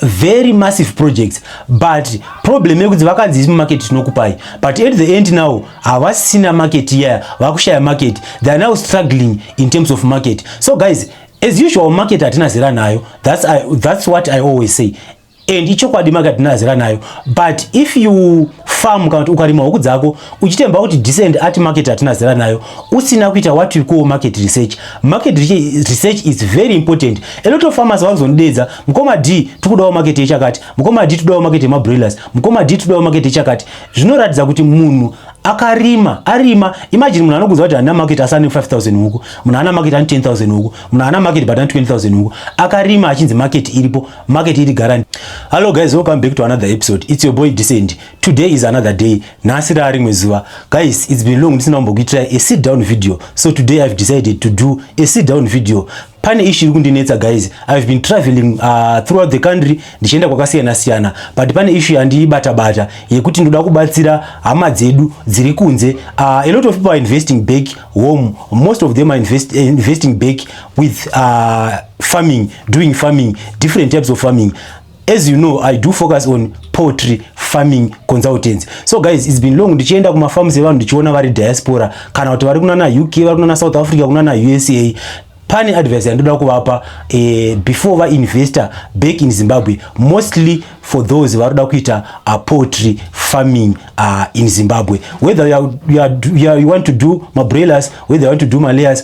very massive projects but problem yekuti vakanzi isi mumarket tinokupai but at the end now havasina market iya yeah, vakushaya market they are now struggling in terms of market so guys as usual market hatina zera nayo that's, I, that's what i always say and ichokwadi market hatina zera nayo but if you farm kana kuti ukarima huku dzako uchitemba kuti decent art market hatina zera nayo usina kuita what we call market research market research is very important a lot of farmers vanozonidedza mukoma d tikudawo market yechakati mukoma d todawo market yemabroilers mukoma d todawo market yechakati zvinoratidza kuti munhu akarima arima imagine munhu anokuza kuti ana market asane 5000 huku munhu ana market ani 10000 huku munhu ana market but ani 20000 huku akarima achinzi market iripo market iri garani hallo guys welcome back to another episode it's your boy decent today is another day nhasi raa rimwe zuva guys it's been long ndisina kumbokuitirai a sit down video so today i've decided to do a sit down video pane ishi iri kundinetsa guys i've been traveling uh, throughout the country ndichienda kwakasiyana siyana but pane ishu yandiibata bata yekuti ndoda kubatsira hama dzedu dziri kunze uh, a lot of people are investing back home most of them are invest, uh, investing back with uh, farming doing farming different types of farming as you know i do focus on poultry farming consultants so guys it's been long ndichienda kumafarms evanhu ndichiona vari diaspora kana kuti vari kunana uk vari kunana south africa kunana usa pane advice yandoda kuvapa eh, before vainvestor back in zimbabwe mostly for those varoda kuita uh, poultry farming uh, in zimbabwe whether you, are, you, are, you, are, you want to do mabroilers whether you want to do malayers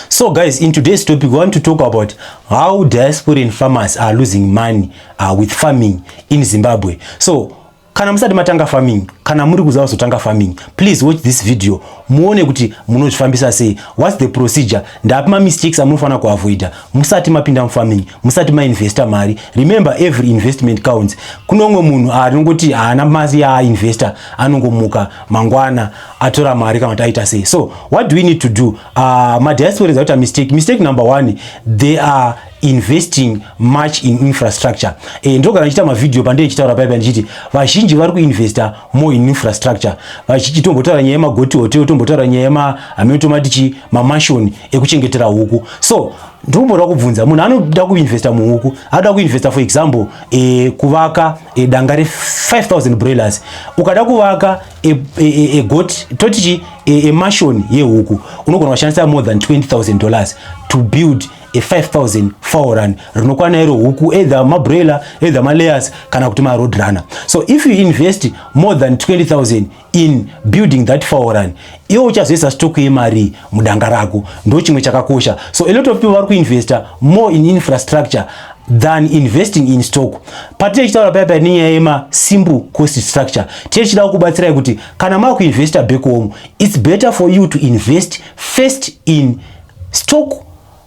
So guys, in today's topic, we want to talk about how diasporan farmers are losing money uh, with farming in Zimbabwe. So, kana musati matanga farming, kana muri kuziva kuzotanga farming, please watch this video. Muone kuti munozvifambisa sei. What's the procedure? Ndapi ma mistakes amunofanira kuavoida musati mapinda mufarming, musati mainvesta mari. Remember every investment counts. Kune umwe munhu anongoti haana mari yaainvesta, anongomuka mangwana atora mari kana kuti aita sei. So, what do we need to do? Uh, madiaspora is out a mistake. Mistake number one, they are investing much in infrastructure e, eh, ndogara ndichita mavideo pandee ndichitaura paipa ndichiti vazhinji vari kuinvesta more in infrastructure vachiti tombotaura nyaya yemagoti hotel tombotaura nyaya yemahameno tomati chi mamashoni ekuchengetera huku so ndomboda kubvunza munhu anoda kuinvesta muhuku anoda kuinvesta for example e, kuvaka e, danga re 5000 broilers ukada kuvaka egot e, e, toti chi emashoni e, yehuku unogona kushandisa more than 20000 dollars to build a 5000 fowl run rinokwana iro huku either mabroiler either malayers kana kuti maroad runner so if you invest more than 20000 in building that fowl run iwe uchazoisa stock yemarii mudanga rako ndo chimwe chakakosha so a lot of people vari kuinvesta more in infrastructure than investing in stock patinenge chitaura paya paya nenyaya yema simple cost structure tinenge chidawo kubatsirai kuti kana maa kuinvesta back home its better for you to invest first in stock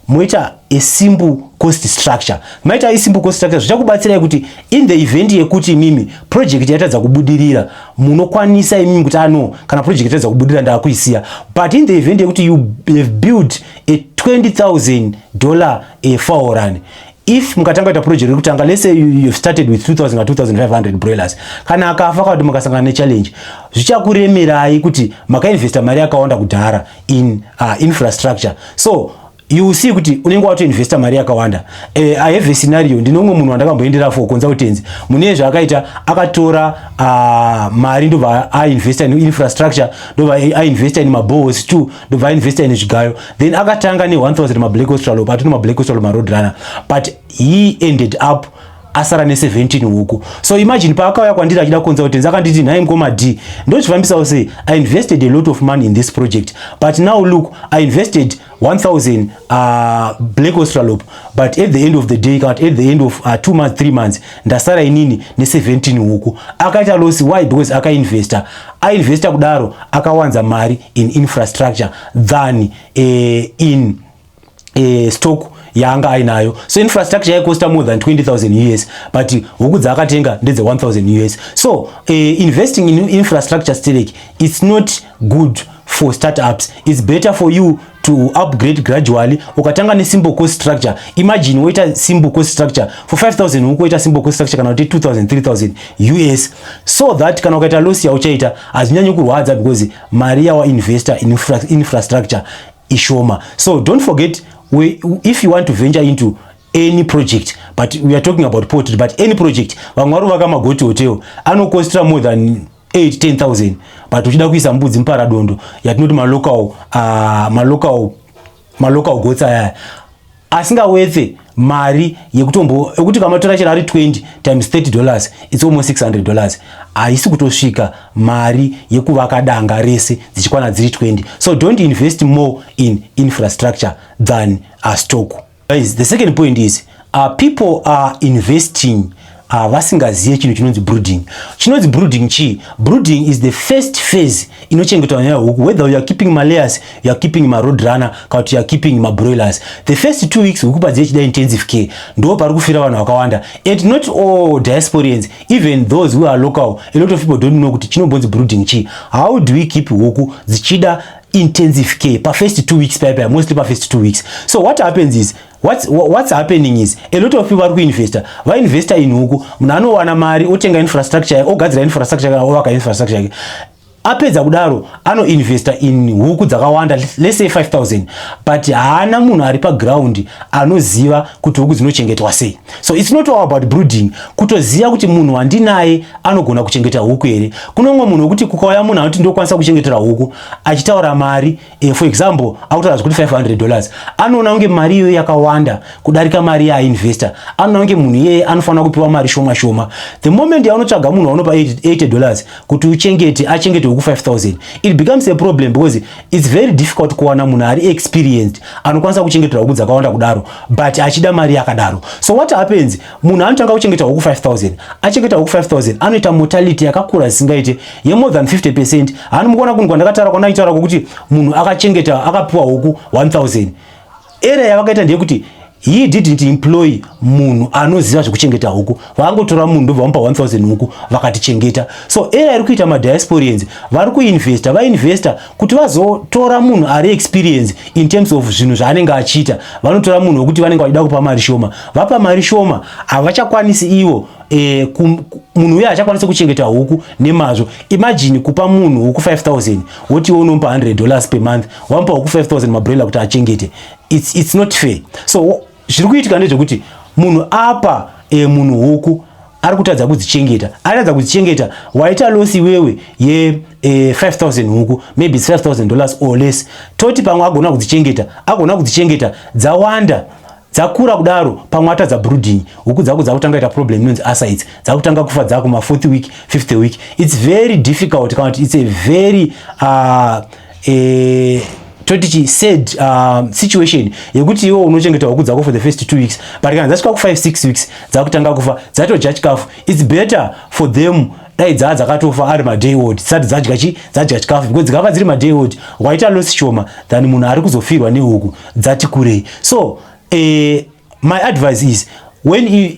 moita a simple cost structure maita isimple cost structure zvichakubatsirai kuti in the event yekuti imimi project yatadza kubudirira munokwanisa imimi kuti ano ah, kana project yatadza kubudirira ndakuisiya but in the event yekuti you have built a 20000 dollar a faoran if mukatanga kuita project rekutanga let's say you have started with 2000 or 2500 broilers kana akafa kana kuti makasangana nechallenge zvichakuremerai kuti makainvesta mari yakawanda kudhara in uh, infrastructure so you will see kuti unenge watoinvesta mari yakawanda uh, i have a scenario ndine umwe munhu wandakamboendera for consultancy mune zvaakaita akatora uh, mari ndobva ainvesta in infrastructure ndobva ainvesta in mabohos t ndobva ainvesta in zvigayo then akatanga ne 1000 mablack australop atino mablack australop maroad runner but he ended up asara ne 17 huku so imagine paakauya kwandiri achida kukonza kuti ndakanditi nhai mkoma d ndozvifambisawo sei i invested a lot of money in this project but now look i invested 1000 uh, black australop but at the end of the day at the end of uh, two months three months ndasara inini ne 17 huku akaita loss why because akainvesta ainvesta kudaro akawanza mari in infrastructure than uh, in eh, stock yaanga ainayo so infrastructure yaicosta more than 20000 us but huku dzaakatenga ndedze 1000 us so eh, investing in infrastructure sterek its not good for startups its better for you to upgrade gradually ukatanga nesimple cost structure imagine woita simple cost structure for 5000 huku woita simple cost structure kana kuti 2000 3000 us so that kana ukaita loss yauchaita hazvinyanyi kurwadza because mari yawainvesta in infra, infrastructure ishoma so don't forget we, if you want to venture into any project but we are talking about poetry but any project vamwe vari vaka magoti hotel anokostra more than 8-10000 but uchida kuisa mbudzi muparadondo yatinoti malocal uh, malocal malocal gots ayaya asingawetse mari yekutombo yekuti kamatora chero ari 20 times 30 dollars its almost 600 dollars haisi kutosvika mari yekuvaka danga rese dzichikwana dziri 20 so don't invest more in infrastructure than a stock guys the second point is uh, people are investing Ah, vasingazive chinhu chinonzi brooding chinonzi brooding chii brooding is the first phase inochengetwa nyaya huku whether youare keeping malayers youare keeping maroad runner kana kuti youare keeping mabroilers the first two weeks huku padzive chida intensive care ndo pari kufira vanhu vakawanda and not all diasporians even those who are local a lot of people don't know kuti chinombonzi brooding chii how do we keep huku dzichida intensive care pafirst two weeks paya paya mostly pafirst two weeks so what happens is What's, what's happening is a lot of people vari kuinvesta vainvesta in huku munhu anowana mari otenga infrastructure yake ogadzira infrastructure yake ovaka infrastructure yake apedza kudaro anoinvesta in huku dzakawanda let's say 5000 but haana munhu ari paground anoziva kuti huku dzinochengetwa sei so it's not all about brooding kutoziva kuti munhu wandinaye anogona kuchengeta huku here kunongo munhu wekuti kukauya munhu anoti ndokwanisa kuchengetera huku achitaura mari e, for example akutaura zvekuti 500 dollars anoona kunge mari iyoyo yakawanda kudarika mari yaainvesta anoona kunge munhu iyeye anofanira kupiwa mari shoma shoma the moment yaunotsvaga munhu waunopa 80 dollars kuti uchengete achengete weku 5000 it becomes a problem because its very difficult kuwana munhu ari experienced anokwanisa kuchengetera huku dzakawanda kudaro but achida mari yakadaro so what happens Munhu anotanga kuchengeta huku 5000 achengeta huku 5000 anoita mortality yakakura zvisingaite ye more than 50% haani mukuona kunhu kwandakatara kwandaitaura kwokuti munhu akachengeta akapiwa huku 1000 area yavakaita ndeyekuti he didn't employ munhu anoziva zvekuchengeta huku vaangotora munhu ndobva vamupa 1000 huku vakatichengeta so era iri kuita madiasporians vari kuinvesta vainvesta kuti vazotora munhu ari experience in terms of zvinhu zvaanenge achiita vanotora munhu wekuti vanenge vachida kupa mari shoma vapa mari shoma havachakwanisi ivo e, munhu uye hachakwanisa kuchengeta huku nemazvo imagine kupa munhu huku 5000 woti iwe unomupa 100 dollars per month wamupa huku 5000 mabroiler kuti achengete it's, it's not fair so zviri kuitika ndezvekuti munhu apa e, munhu huku ari kutadza kudzichengeta aratadza kudzichengeta waita loss iwewe ye e, 5000 huku maybe 5000 dollars or less toti pamwe agona kudzichengeta agona kudzichengeta dzawanda dzakura kudaro pamwe atadza brooding huku dzako dzakutanga ita problem inonzi asides dzakutanga kufa dzako ma fourth week fifth week it's very difficult kana kuti it's a very uh, eh, toti chi sad uh, situation yekuti iwo unochengeta huku dzako for the first two weeks but kana dzasvika ku 5 six weeks dzakutanga kufa dzatodya chikafu its better for them dai dzaa dzakatofa ari maday old dzisati dzadya chi dzadya chikafu because dzikava dziri maday old waita loss shoma than munhu ari kuzofirwa nehuku dzati kurei so eh, my advice is when you,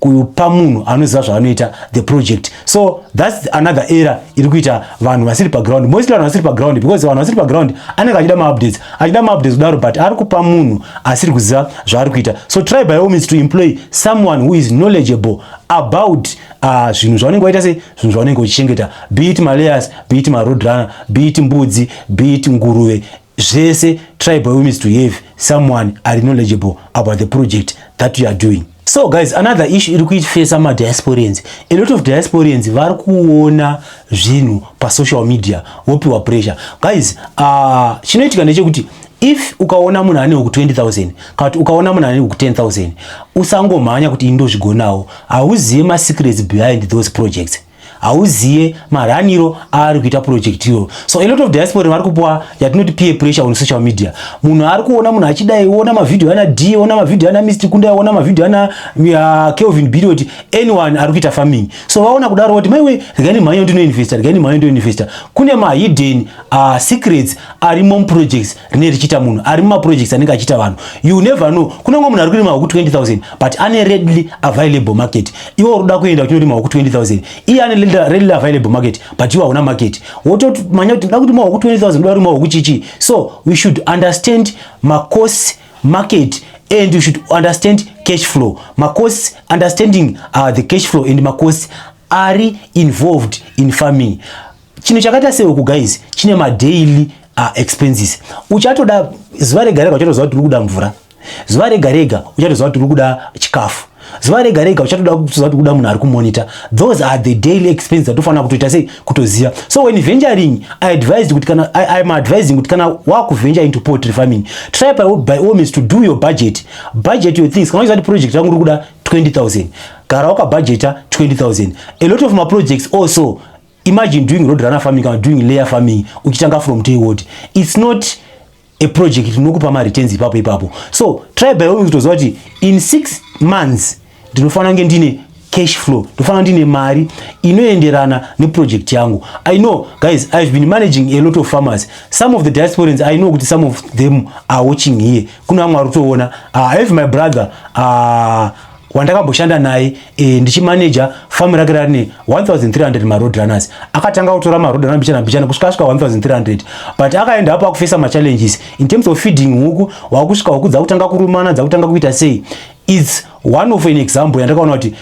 kupa munhu anoziva zvaanoita the project so thats another era iri kuita vanhu vasiri paground mostly vanhu vasiri paground because vanhu vasiri paground anenge achida maupdates achida maupdates kudaro but ari kupa munhu asiri kuziva zvaari kuita so try by all means to employ someone who is knowledgeable about uh, zvinhu zvaunenge waita sei zvinhu zvaunenge uchichengeta be it malayers be it maroad runner be it mbudzi be it nguruve zvese try by means to have someone ari knowledgeable about the project that you are doing so guys another issue iri kuitfesa madiasporians a lot of diasporians vari kuona zvinhu pasocial media wopiwa pressure guys uh, chinoitika ndechekuti if ukaona munhu ane huku 20000 kana kuti ukaona munhu ane huku 10000 usangomhanya kuti ini ndozvigonawo hauzive masecrets behind those projects hauziye maraniro aari kuita project iro so a lot of diaspora vari kupuwa yatinoti peer pressure on social media munhu ari kuona munhu achidai ona mavhidhio ana d ona mavhidhio ana mist kunda ona mavhidhio ana uh, kelvin birioti anyone ari kuita farming so vaona kudaro kuti maiwe regai nemhanya yondinoinvesta regai nemhanya yondinoinvesta kune mahidden uh, secrets ari mom projects rine richiita munhu ari mumaprojects anenge achiita vanhu you never know kunenge munhu ari kurima huku 20000 but ane readily available market iwe uruda kuenda uchindorima huku 20000 iye ane readily available market but iwe hauna market wotomanya kuti nda kurima huku 20000 ndoda kurima huku chichi so we should understand macost market and you should understand cash flow macost understanding uh, the cash flow and macost ari involved in farming chinhu chakaita sehuku guys chine madaily uh, expenses uchatoda zuva rega rega uchatoziva kuti uri kuda mvura zuva rega rega uchatoziva kuti uri kuda chikafu zuva rega rega uchatoda kuziva kuti kuda munhu ari kumonita those are the daily expenses atofanira kutoita sei kutoziva so when venturing i advised kuti kana i am advising kuti kana wakuventure into poultry farming try by, by all means to do your budget budget your things kana uchiziva kuti project rangu uri kuda 20000 gara wakabhajeta 20000 a lot of maprojects also imagine doing road runner farming kana doing layer farming uchitanga from day word it's not a project tinokupa ma returns ipapo ipapo so try by all kutoziva kuti in 6 months ndinofanira kunge ndine cash flow ndofanira ndine mari inoenderana neproject yangu i know guys ihave been managing a lot of farmers some of the diasporans i know kuti some of them are watching here kune vamwe vari kutoona ah, i have my brother uh, wandakamboshanda naye e, ndichimaneja famu rake rarine 1300 maroad runners akatanga kutora maroad runner mbichana mbichana kusvika asvika 1300 but akaenda apo akufesa machallenges in terms of feeding huku wakusvika huku dzakutanga kurumana dzakutanga kuita sei its one of an example yandakaona kuti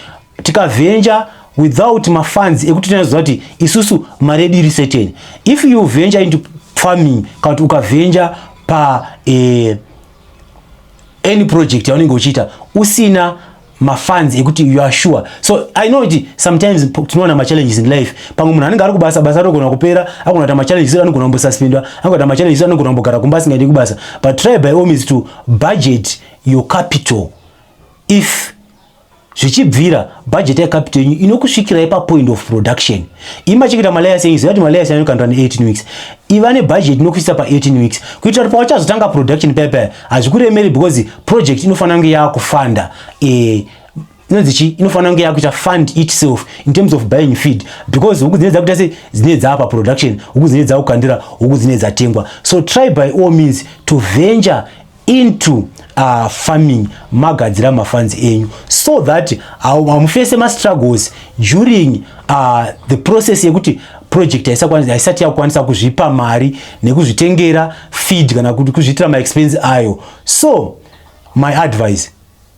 tikavenja without mafans ekuti tinazoziva kuti isusu mari yedu iri certain if you venture into farming kana kuti ukavenja pa eh, any project yaunenge uchiita usina mafans ekuti you are sure so i know kuti sometimes tinoona machallenges in life pamwe munhu anenge ari kubasa basa anogona kupera agona kuita machallenges anogona kumbosuspendwa anogona kuita machallenges anogona kumbogara kumba asingaendi kubasa but try by all means to budget your capital if zvichibvira budget yecapital yenyu inokusvikirai papoint of production imacheketa malayers enyu ziva kuti malayers anokandwa ne18 weeks iva nebudget inokuisa pa18 weeks kuitira kuti pawachazotanga production paya paya hazvikuremeri because project inofanira kunge yaakufanda eh, inonzi chii inofanira kunge yakuita fund itself in terms of buying feed because huku dzine dzakuita se dzine dzaapa production huku dzine dzakukandira huku dzine dzatengwa so try by all means to venture into uh, farming magadzira mafans enyu so that hamufese uh, mastruggles during uh, the process yekuti project haisati yakukwanisa kuzvipa mari nekuzvitengera feed kana kuti kuzviitira maexpense ayo so my advice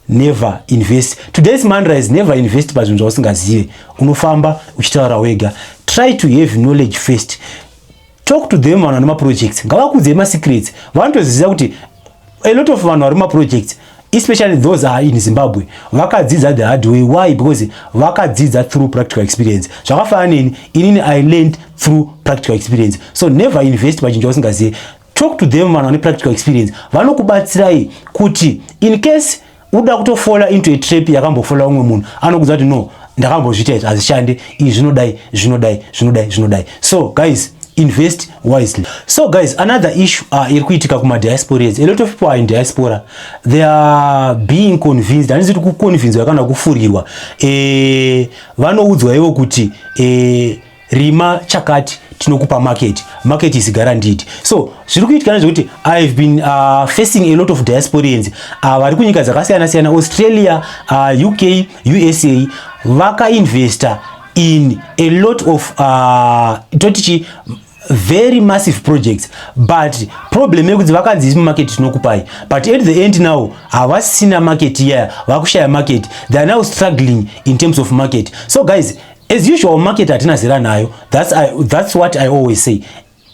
never invest today's mandra is never invest pazvinhu zvausingazive unofamba uchitaura wega try to have knowledge first talk to them vanhu vane maprojects ngavakudzei masecrets vanotoziva kuti a lot of vanhu vari maprojects especially those are in zimbabwe vakadzidza the hard way why because vakadzidza through practical experience zvakafanira neni inini i learned through practical experience so never invest pachinhu chausingazive Talk to them vanhu vane practical experience vanokubatsirai kuti in case uda kutofola into a trap yakambofola umwe munhu anokuza kuti no ndakambozviita izvi hazvishande izvi zvinodai zvinodai zvinodai zvinodai so guys invest wisely so guys another issue uh, iri kuitika kumadiasporas a lot of people are in diaspora they are being convinced handizi kuti kuconvincwa kana kufurirwa e, vanoudzwa ivo kuti e, rima chakati tinokupa market market is guaranteed so zviri kuitika nezvekuti i have been uh, facing a lot of diasporians uh, vari kunyika dzakasiyana siyana australia uh, uk usa vakainvesta in a lot of uh, totichi very massive projects but problem yekuti vakanzi isi mumarket tinokupai but at the end now havasina market iya vakushaya market they are now struggling in terms of market so guys As usual market hatina zera nayo. That's, I, that's what I always say.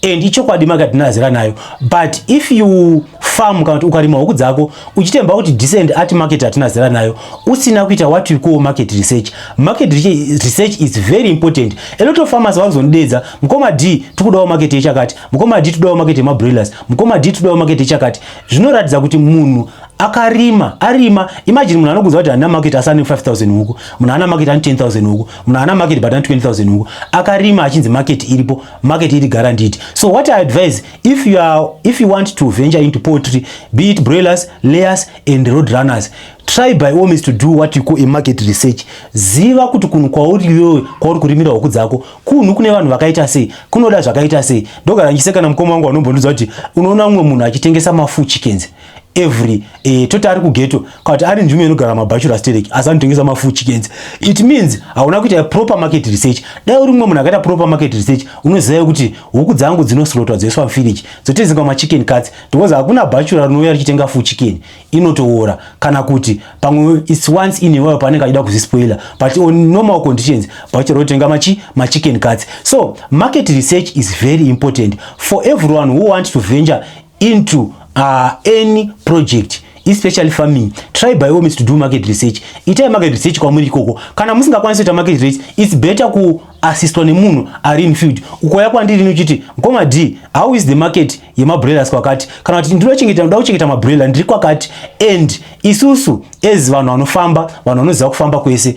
And ichokwadi market hatina zera nayo. But if you farm kana kuti ukarima huku dzako uchitemba kuti decent art market hatina zera nayo usina kuita what we call market research. Market research is very important. A lot of farmers vanozonidedza mukoma D tikudawo market yechakati, mukoma D tikudawo market yemabroilers, mukoma D tikudawo market yechakati. Zvinoratidza kuti munhu akarima arima imagine munhu anokunza kuti hana market asi ane 5000 huku munhu hana market ane 10000 huku munhu hana market but ane 20000 huku akarima achinzi market iripo market iri guaranteed so what i advise if you are if you want to venture into poultry be it broilers layers and road runners try by all means to do what you call a market research ziva kuti kunhu kwauri iwewe kwauri kurimira huku dzako kunhu kune vanhu vakaita sei kunoda zvakaita sei ndogara ndichiseka kana mukoma wangu anombondiudza kuti unoona mumwe munhu achitengesa mafuchi kenzi every eh, toti ari kugeto kati ari nzvimbo inogara mabachelor sterek asi anotengesa mafuchi kenzi it means hauna kuita proper market research dai uri mumwe munhu akaita proper market research unoziva kuti huku dzangu dzinoslotwa dzoiswa mfiriji dzotezinga machicken cuts because hakuna bachelor rinouya richitenga fu chicken inotoora kana kuti pamwe its once in a while paanenge achida kuzvispoiler but on normal conditions bachelor otenga machi machicken cuts so market research is very important for everyone who want to venture into uh, any project especially farming try by all means to do market research itai market research kwamuri ikoko kana musingakwanisi kuita market research its better kuassistwa nemunhu ari in field ukoya kwandiri nochiti mkoma d how is the market yemabroilers kwakati kana kuti ndinochengeta ndoda kuchengeta mabroiler ndiri kwakati and isusu as vanhu vanofamba vanhu vanoziva kufamba kwese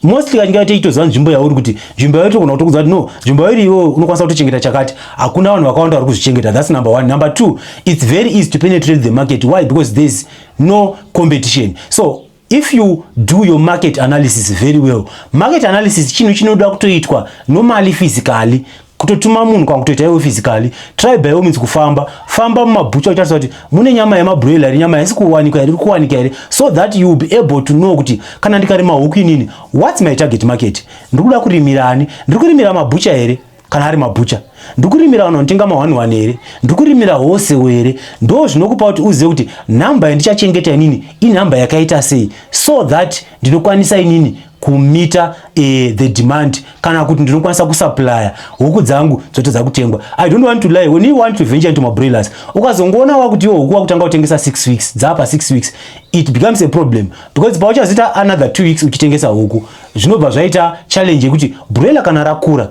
mostly kazhinji kacho tichitoziva nzvimbo yauri kuti nzvimbo yauri togona kutokudza kuti no nzvimbo yauri iwewe unokwanisa kutochengeta chakati hakuna vanhu vakawanda vari kuzvichengeta thats number one number two its very easy to penetrate the market why because thereis no competition so if you do your market analysis very well market analysis chinhu chinoda kutoitwa nomali physically kutotuma munhu kana kutoita iwe physically try by all means kufamba famba mumabhucha uchitarisa kuti mune nyama yemabroiler here nyama haisi kuwanika here iri kuwanika here so that you will be able to know kuti kana ndikarima huku inini what's my target market ndiri kuda kurimira ani ndiri kurimira mabhucha here kana ari mabhucha ndiri kurimira vanhu vanotenga mahwani hwani here ndiri kurimira hose here ndo zvinokupa kuti uzive kuti nhamba yandichachengeta inini inhamba yakaita sei so that ndinokwanisa inini kumita eh, the demand kana kuti ndinokwanisa kusuplya huku dzangu dzotadza kutengwa i don't want to lie when you want to venture into mabroilers ukazongoona wakuti iwo huku wakutanga kutengesa 6 weeks dzapa 6 weeks it becomes a problem because pauchazoita another 2 weeks uchitengesa huku zvinobva zvaita challenge yekuti broiler kana rakura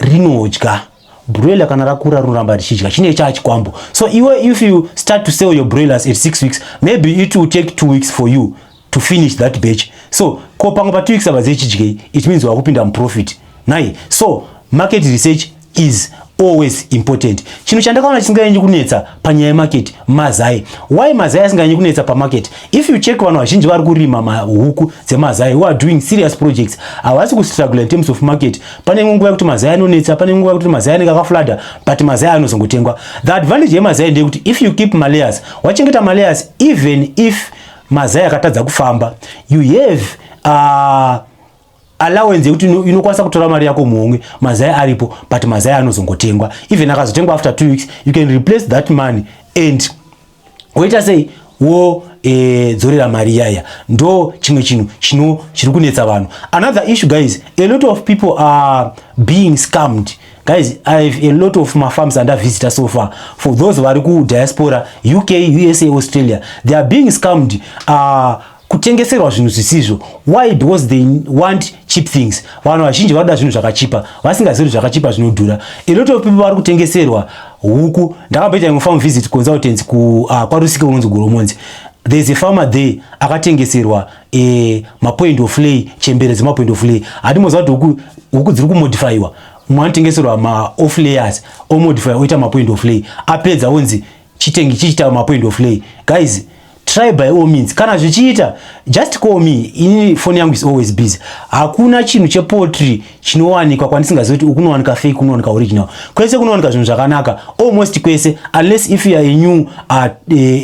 rinodya broiler kana rakura rinoramba richidya chine chaa chikwambo so iwe if you start to sell your broilers at 6 weeks maybe it will take 2 weeks for you to finish that batch so ko pamwe pa two weeks avazive chidyei it means wakupinda muprofit nai so market research is always important chinhu chandakaona chisinganyanyi kunetsa panyaya yemarket mazai why mazai asinganyanyi kunetsa pamarket if you check vanhu vazhinji vari kurima mahuku dzemazai who are doing serious projects havasi kustruggle in terms of market pane imwe nguva yekuti mazai anonetsa pane imwe nguva yekuti mazai anenge akaflada but mazai anozongotengwa the advantage yemazai ndeyekuti if you keep malayers wachengeta malayers even if Mazai akatadza kufamba. You have uh, allowance yekuti inokwanisa kutora mari yako muhomwe mazai aripo but mazai anozongotengwa even akazotengwa after two weeks you can replace that money and woita sei wo e, dzorera mari yaya ndo chimwe chinhu chino chiri kunetsa vanhu another issue guys a lot of people are being scammed Guys, I have a lot of my farms and I visitor so far. For those who are ku diaspora, UK, USA, Australia, they are being scammed. Uh, kutengeserwa zvinhu zvisizvo why because they want cheap things vanhu vazhinji vanoda zvinhu zvakachipa vasingazivi zvakachipa zvinodhura a lot of people vari kutengeserwa huku ndakamboita imwe farm visit consultants ku uh, kwarusike unonzi goromonzi there's a farmer there akatengeserwa eh mapoint of lay chembere dzemapoint of lay hadi moziva kuti huku huku dziri kumodifyiwa mwanotengeserwa maoff layers omodify oita mapoint of lay apedza onzi chitengi chichita mapoint of lay guys try by all means kana zvichiita just call me ini phone yangu is always busy hakuna chinhu chepotry chinowanikwa kwandisingazivi kuti ukunowanika fake unowanika original kwese kunowanika zvinhu zvakanaka almost kwese unless if youare a new, uh,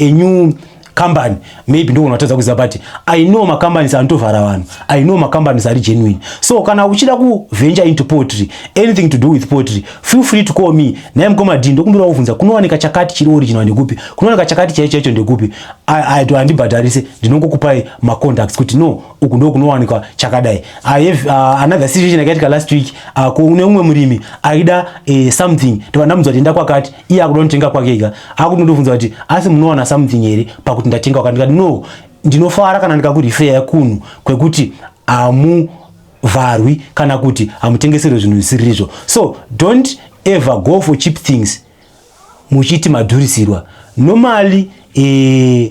a new company maybe ndogona kutadza kuziva but i know macompanies anotovhara vanhu i know macompanies ari genuine so kana uchida kuventure into potry anything to do with potry feel free to call me naye mukoma d ndokumbira kuvhunza kunowanika chakati chiri original ndekupi kunowanika chakati chaicho chaicho ndekupi handibhadharise ndinongokupai macontacts kuti no uku ndo kunowanikwa chakadai i have uh, another situation yakaitika last week uh, kune umwe murimi aida uh, something ndovandamudzwa tienda kwakati iye akuda kunotenga kwake ega akuti ndobvunza kuti asi munowana something here pakuti ndatenga kwaka ndikati no ndinofara kana ndikakurifeya kunhu kwekuti hamuvharwi kana kuti hamutengeserwe zvinhu zvisiririzvo so don't ever go for cheap things muchiti madhurisirwa normally eh,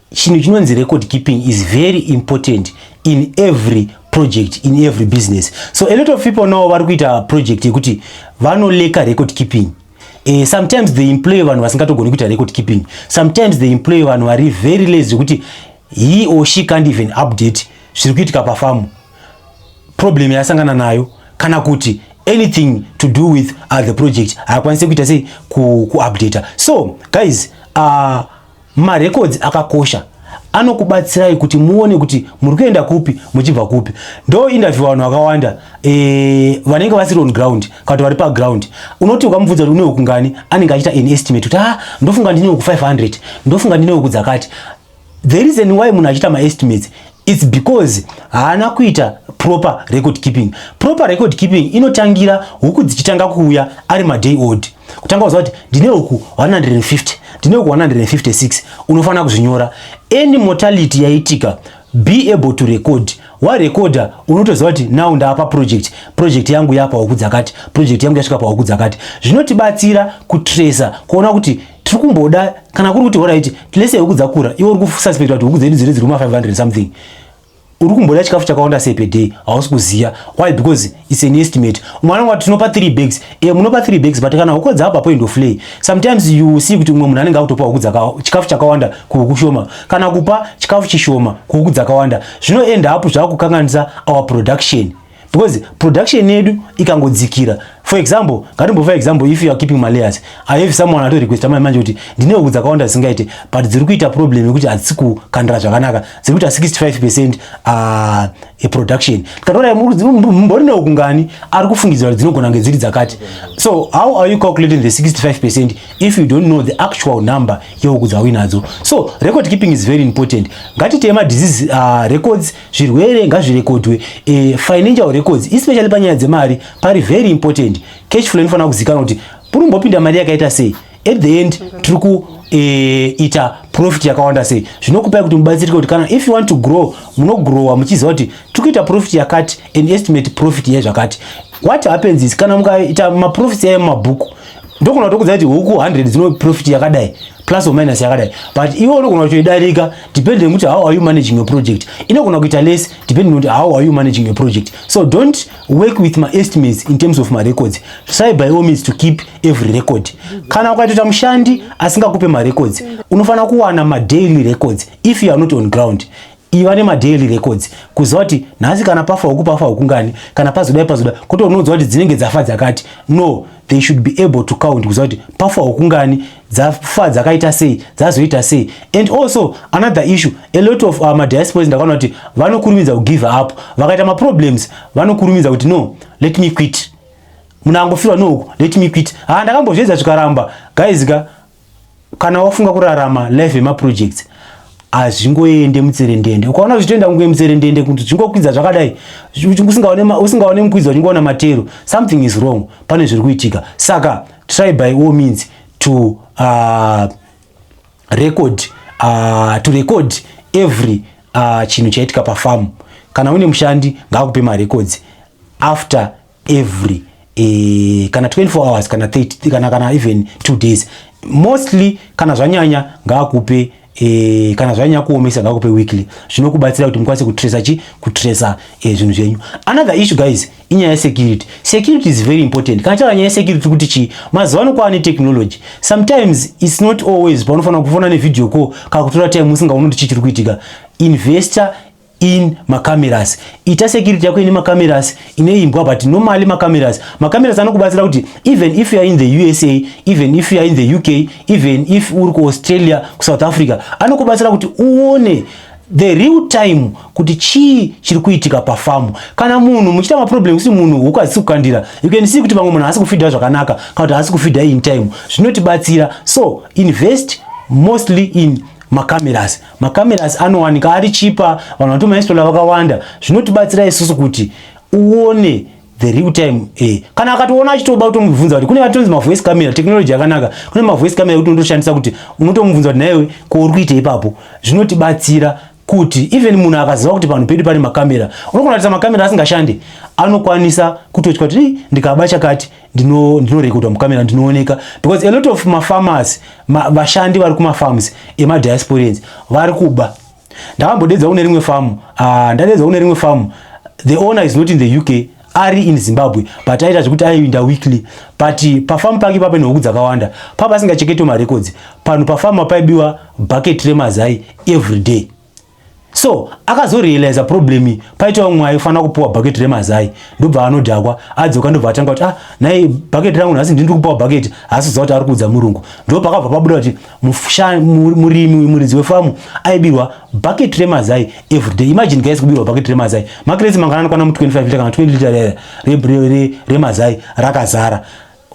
chinhu chinonzi record keeping is very important in every project in every business so a lot of people now vari kuita project yekuti vanoleka record keeping Uh, sometimes they employ vanhu vasingatogoni kuita record keeping sometimes they employ vanhu vari very lazy zvekuti he or she can't even update zviri kuitika pafamu problem yasangana nayo kana kuti anything to do with uh, the project haakwanise kuita sei kuupdata so guys uh, Marecords akakosha anokubatsirai kuti muone kuti muri kuenda kupi muchibva kupi. Ndo interview vanhu vakawanda eh, vanenge vasiri on ground kana vari pa ground. Unoti ukamubvunza kuti une huku ngani anenge achita an estimate kuti ah ndofunga ndine huku 500, ndofunga ndine huku dzakati. The reason why munhu achita ma estimates It's because haana kuita proper record keeping. Proper record keeping inotangira huku dzichitanga kuuya ari maday old. Kutanga kuziva kuti ndine huku 150, ndine huku 156, unofanira kuzvinyora. Any mortality yaitika, be able to record. Warekoda unotoziva kuti now ndaapa project, project yangu yapa huku dzakati, project yangu yasvika pahuku dzakati. Zvinotibatsira kutracer kuona kuti tiri kumboda kana kuri kuti horaiti tilese huku dzakura iwe uri kususpecta kuti huku dzedu dziri dziri kuma 500 something uri kumboda chikafu chakawanda sei per day hausi kuziva why because its an estimate mwana wati tinopa 3 bags e munopa 3 bags but kana huku dzapa point of lay sometimes you see kuti umwe munhu anenge akutopa huku chikafu chakawanda kuhuku shoma kana kupa chikafu chishoma kuhuku dzakawanda zvinoenda apo zvakukanganisa our production because production yedu ikangodzikira for example ngatimbova example if you are keeping malayers i have someone ato requesta mai manje kuti ndine huku dzakawanda dzisingaite but dziri kuita problem yekuti hadzisi kukandira zvakanaka dziri kuita 65 percent uh, eproduction tikatoona mbori nehuku ngani ari kufungidzira kuti dzinogona kunge dziri dzakati so how are you calculating the 65 percent if you don't know the actual number yehuku dzauinadzo so record keeping is very important ngatiteye madisease uh, records zvirwere ngazvirekodwe eh, financial records especially panyaya dzemari pari very important cash flow inofanira kuzikanwa kuti puri kumbopinda mari yakaita sei at the end tiri kuita eh, e, profit yakawanda sei zvinokupai kuti mubatsirike kuti kana if you want to grow munogrowa muchiziva kuti tiri kuita profit yakati and estimate profit yezvakati what happens is kana mukaita maprofits yayo mumabhuku ndokona kutokudza kuti huku 100 dzinoprofit yakadai plus or minus yakadai but iwe unogona kutoidarika depending nekuti how are you managing your project inogona kuita less depending nekuti how are you managing your project so don't work with my estimates in terms of my records try by all means to keep every record kana ukaitoita mushandi asingakupe marecords unofanira kuwana madaily records if you are not on ground iva nemadaily records kuziva kuti nhasi kana pafa huku pafa huku ngani kana pazodai pazoda kuti unoudzwa kuti dzinenge dzafa dzakati no they should be able to count kuziva kuti pafa huku ngani dzafa dzakaita sei dzazoita sei and also another issue a lot of uh, madiasporas ndakaona kuti vanokurumidza kugive up vakaita maproblems vanokurumidza kuti no let me quit munhu angofirwa nouku let me quit ha ah, ndakambozviedza zvikaramba guys ka kana wafunga kurarama life yemaprojects hazvingoende mutserendende ukaona zvichitoenda kunge mutserendende kuti zvingokwidza zvakadai usingaone mukwidzo uchingoona matero something is wrong pane zviri kuitika saka try by all means to uh, record uh, to record every uh, chinhu chaitika pafamu kana une mushandi ngaakupe marecords after every eh, kana 24 hours kana 30 kana kana even 2 days mostly kana zvanyanya ngaakupe E, kana zvanyanya kuomesa ngakupe weekly zvinokubatsira kuti mukwanise kutresa chi kutresa e, zvinhu zvenyu another issue guys inyaya yesecurity security is very important kana chava nyaya yesecurity kuti chii mazuva ano kwava netechnology sometimes its not always paunofanira kufona nevideo call kana kutora time usingaoni kuti chii chiri kuitika investor in macameras ita security yako ine macameras ine imbwa but normally macameras macameras anokubatsira kuti even if you are in the usa even if you are in the uk even if uri kuaustralia kusouth africa anokubatsira kuti uone the real time kuti chii chiri kuitika pafamu kana munhu muchiita maproblem kuti munhu huku hadzisi kukandira you can see kuti vamwe munhu haasi kufidha zvakanaka kana kuti haasi kufidha in time zvinotibatsira so invest mostly in macameras Macameras anowanika ari chipa, vanhu vanoto mainstalla vakawanda, zvinotibatsira isusu kuti uone the real time eh. Kana akatoona achitoba kutomubvunza kuti kune vatonzi mavoice camera technology yakanaka kune mavoice camera ekuti unotoshandisa kuti unotomubvunza kuti naiwe ko uri kuita ipapo zvinotibatsira kuti even munhu akaziva kuti panhu pedu pane makamera unogona kuratidza makamera asingashande anokwanisa kutotya kuti ndikaba chakati ndino ndinorekodwa mukamera ndinooneka because a lot of mafarmers ma, vashandi vari kumafarms emadiasporians vari kuba ndakambodedza kune rimwe famu uh, ah, ndadedza kune rimwe famu the owner is not in the uk ari in zimbabwe but aita zvekuti aiinda weekly but eh, pafamu pake pape nehuku dzakawanda papa asingacheketwe marecords panhu pafamu paibiwa bucket remazai every day so akazorealiza problem iyi paita umwe aifanira kupiwa bucket remazai ndobva anodhakwa adzoka ndobva atanga kuti ah nhai bucket rangu nhasi ndiri kupiwa bucket haasi kuziva kuti ari kuudza murungu ndipo pakabva pabuda kuti murimi uyu muridzi wefamu aibirwa bucket remazai everyday imagine guys kubirwa bucket remazai makiresi mangana anokwana mu 25 lita kana 20 lita remazai rakazara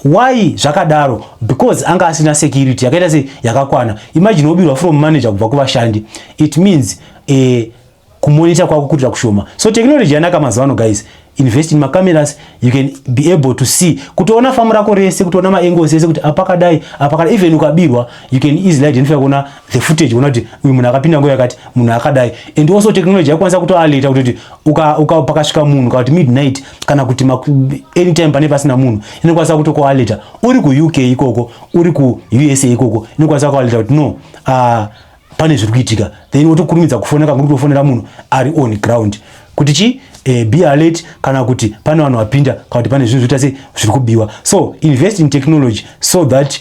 Why zvakadaro? Because anga asina security yakaita se yakakwana. Imagine wobirwa from manager kubva kuvashandi. It means eh kumonita kwako kutoita kushoma. So technology yanaka mazuva ano guys. Invest in macameras, you can be able to see. Kutoona famu rako rese, kutoona maangles ese kuti apakadai, apakadai. Even ukabirwa, you can easily identify kuona the footage uona kuti uyu munhu akapinda nguva yakati munhu akadai and also technology yakwanisa kutoaleta kuti uka pakasvika munhu kana kuti midnight kana kuti anytime pane pasina munhu inokwanisa kutokualeta uri kuuk ikoko uri kuusa ikoko inokwanisa kualeta kuti no uh, pane zviri kuitika then wotokurumidza kufona kakuri kutofonera munhu ari on ground kuti chii eh, be alert kana kuti pane vanhu vapinda kana kuti pane zvinhu zvoita se zviri kubiwa so invest in technology so that